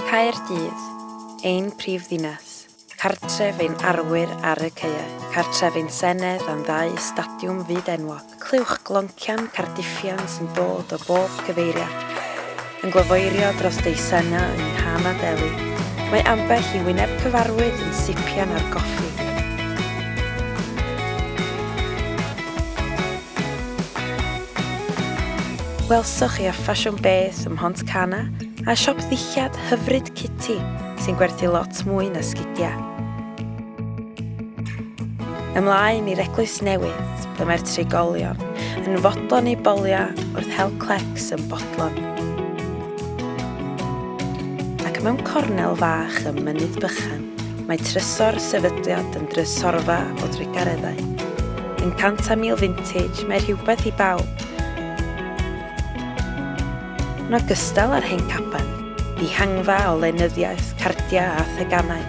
Caerdydd, ein prif ddinas, cartref ein arwyr ar y caeau, cartref ein senedd a'n ddau stadiwm fyd enwog, clywch gloncian Cardiffian sy'n dod o bob cyfeiriad, yn gwafoeirio dros dei Senna yng nghan a deli, mae ambell i wyneb cyfarwydd yn sipian ar goffi. Welsoch chi a ffasiwn beth ym Mhont Cana? A siop ddillad hyfryd Kitty sy'n gwerthu lot mwy na sgidiau. Ymlaen i'r Eglwys Newydd, ble mae'r trigolion yn fodlon ei bolio wrth hel clecs yn bodlon. Ac mewn cornel fach ym Mynydd Bychan, mae trysor sefydliad yn drysorfa o drugareddau. Yn cant a mil vintage, mae rhywbeth i bawb, Yn ogystal â'r hen gaban, dihangfa o lenyddiaeth, cardiau a theganau.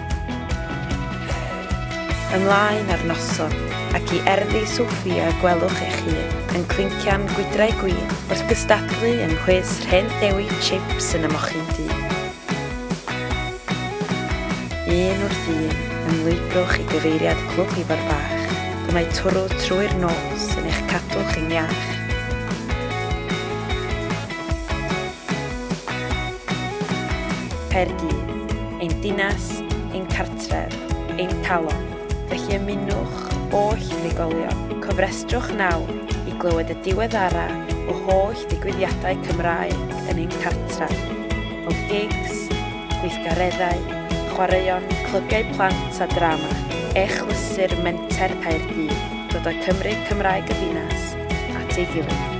Ymlaen â'r noson, ac i erddi Sophia gwelwch eich hun yn clincian gwydrau gwin wrth gystadlu yng nghwis rhên dewi chips yn y mochyn du. Un wrth un, ymlwybrwch i gyfeiriad Clwb Ifor Bach, ble mae twrw trwy'r nos yn eich cadw chi'n iach. Caerdydd, ein dinas, ein cartref, ein calon. Felly ymunwch oll unigolion, cofrestrwch nawr i glywed y diweddara o holl ddigwyddiadau Cymraeg yn ein cartref, o gigs, gweithgareddau, chwaraeon, clybiau plant a drama. Echlysur Menter Caerdydd, dod â Cymru Cymraeg y ddinas at ei gilydd.